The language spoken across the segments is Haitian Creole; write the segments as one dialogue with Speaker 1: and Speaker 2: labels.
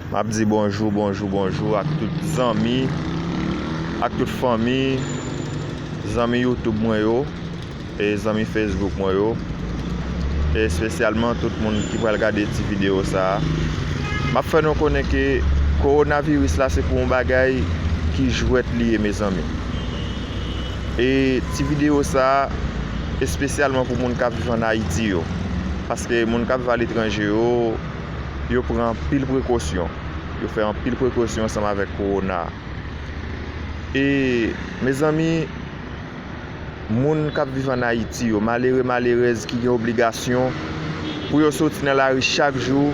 Speaker 1: Map di bonjou bonjou bonjou ak tout zanmi ak tout fanmi zanmi youtube mwen yo e zanmi facebook mwen yo e espesyalman tout moun ki pral gade ti video sa map fè nou konnen ke kowona viris la se pou yon bagay ki jwèt li ye mezanmi E ti video sa espesyalman pou moun kap viv an Ayiti yo. Paske moun kap viv aletranje yo, yo pran anpil prekosyon. Yo fè anpil prekosyon ansanm avèk kowona. E mezanmi moun kap viv an Ayiti yo, malere malerèz ki gen obligasyon pou yo soti nan lari chak jou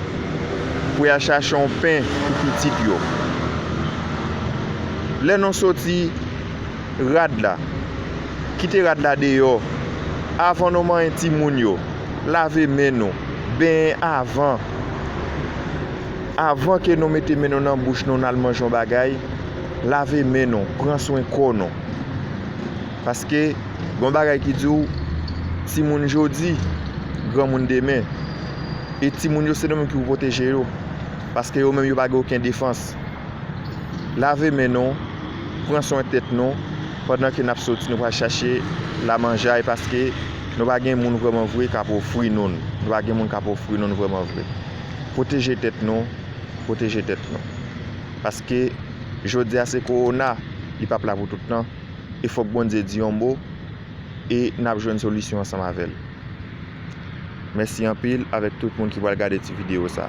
Speaker 1: pou yal chache yon pen pou pitit yo. Lè nou soti. rad la, kite rad la deyò, avan nou manyen timoun yo, lave men nou, benyen avan, avan ke nou mete men nou nan bouch nou nal manje yon bagay, lave men nou, pran swen kò nou. Paske gon bagay ki di w, timoun jodi, granmoun demen. E timoun yo se nou menm ki pou pwoteje yo, paske yo menm yo pa gen oken defans. lave men nou, pran swen tèt nou, pandan ke nap soti nou pral chache la manjay paske nou pa gen moun vreman vre kap ofri nou n, nou pa gen moun kap ofri nou n vreman vre. Pwoteje tèt nou, pwoteje tèt nou. Paske jodi a se kowona, li pap la pou tout tan, e fòk Bondye di yon mo e nap jwenn solisyon ansanm avèl. Mèsi anpil avèk tout moun ki pral gade ti video sa.